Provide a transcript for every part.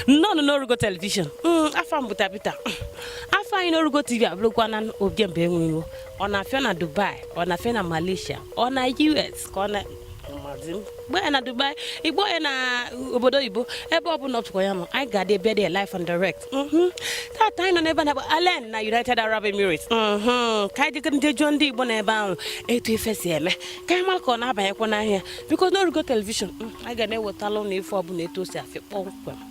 nnọọ n'orugo telivishọn mm, afa m bụ Tabita mm, afa anyị n'orugo tv abụrụkwana ojemba enwe ilo ọ na-afịọ na Dubai ọ na-afịọ na Malaysia ọ na US ka ọ na gba ya na dubai igbo ya na obodo oyibo ebe ọ bụla ọpụkwa ya nọ anyị ga-adị bịa dị live and direct mhm. tata anyị nọ n'ebe a na-akpọ Al Ain na united arab emirates mhm. ka anyị je ka anyị jụọ ndị igbo nọ ebe ahụ etu ife si eme ka anyị mara ka ọ na-abanyekwa n'ahịa because n'orugo telivishọn mm, anyị ga na-ewetala unu ife ọbụla etu o si afịọ kpọmkwem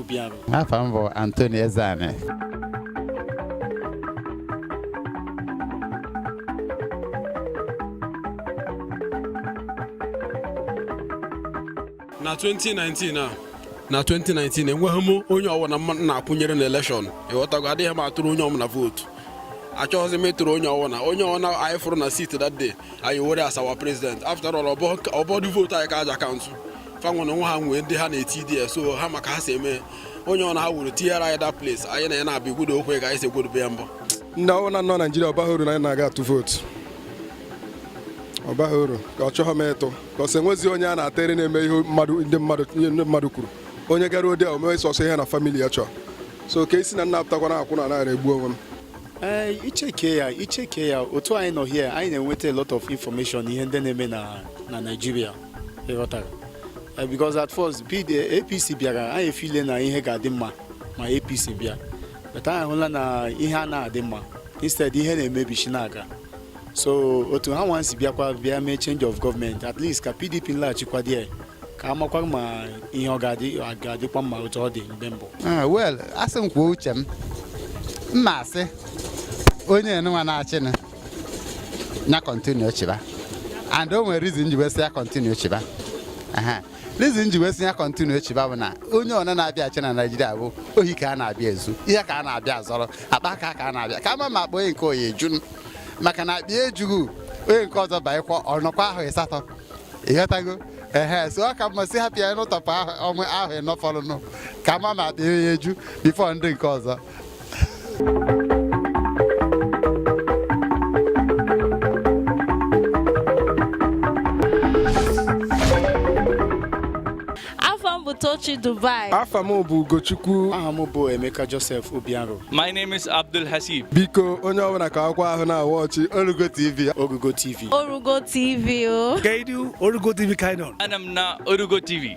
Obiarụ afa m bụ Anthony Ezeani na 2019 a na 2019 enweghị m onye ọbụla m na-akwụnyere na elekshọn ịghọtago adịghị m atụrụ onye ọbụla vootu achọghịzi m ịtụrụ onye ọbụla onye ọbụla anyị fụrụ na siti that day anyị were as our president after all ọ bụdụ vootu anyị ka a ja-akaụntụ fa nwere onwe ha nwee ndị ha na-eti there so ha ma ka ha si eme onye ọwụna ha wuru tinyere anyị that place anyị na ya na-abịa igwudo okwe ka anyị si egwudobe ya mbụ ndị ọwụna nọ naijiria ọ baghị uru na anyị na-aga atụ vootu ọ baghị uru achọghị m ịtụ ka ọ sị enwezi onye a na-atere na-eme ihe mmadụ ndị mmadụ ihe ndị mmadụ kwuru onye gara there o mewe sọsọ ihe na famili ya chọọ so ka esi na nna apụtakwana akwụ na naghara egbu onwe m ee icheke ya icheke ya otu anyị nọ here anyị na-enweta a lot of information ihe ndị na-eme na na Naịjirịa ịghọtara eh, because at first APC eh, bịara anyị efile na ihe ga-adị mma ma APC bịa but anyị hụla na ihe anaghị adị mma instead ihe na-emebichi na-aga so otu ha nwa si bịakwa bịa mee change of government at least ka PDP laghachikwa there ka a makwa ma ihe ọ ga-adịkwa mma otu ọ dị mgbe mbụ ah, well a sị m kwuo uche m m ma-asị onye a nụnwa na-achịnụ nya kọntinu chịba and o nwere rizin ji wee sị ya kọntinu chịba rizin ji wee sị ya kọntinu chịba bụ na onye ọwụna na-abịa achị na naijiria bụ ohi ka a na-abịa ezu ihe ka a na-abịa azọrọ akpa aka ka a na-abịa ka a ma ma akpa onye nke oyi ejunu maka na akpa ejughị onye nke ọzọ banyekwa ọ nọkwa ahọ ịsatọ ịghọtago ehe so ọ ka mma sị hapụ ya n'ụtọpụ ahụ ọnwe ahọ ịnọ fọrọnụ ka a ma ma akpa onye eju bifo ndị nke ọzọ Afa m bụ Tochi Dubai. Afa m bụ Ugochukwu aha m bụ Emeka Joseph Obiaro My name is Abdul Hasib. biko onye ọbụla ka akwụkwọ ahụ na-awatch Orugo TV Orugo TV Orugo TV o. Kaidu Orugo TV ka anyị nọ. Anọ m na Orugo TV.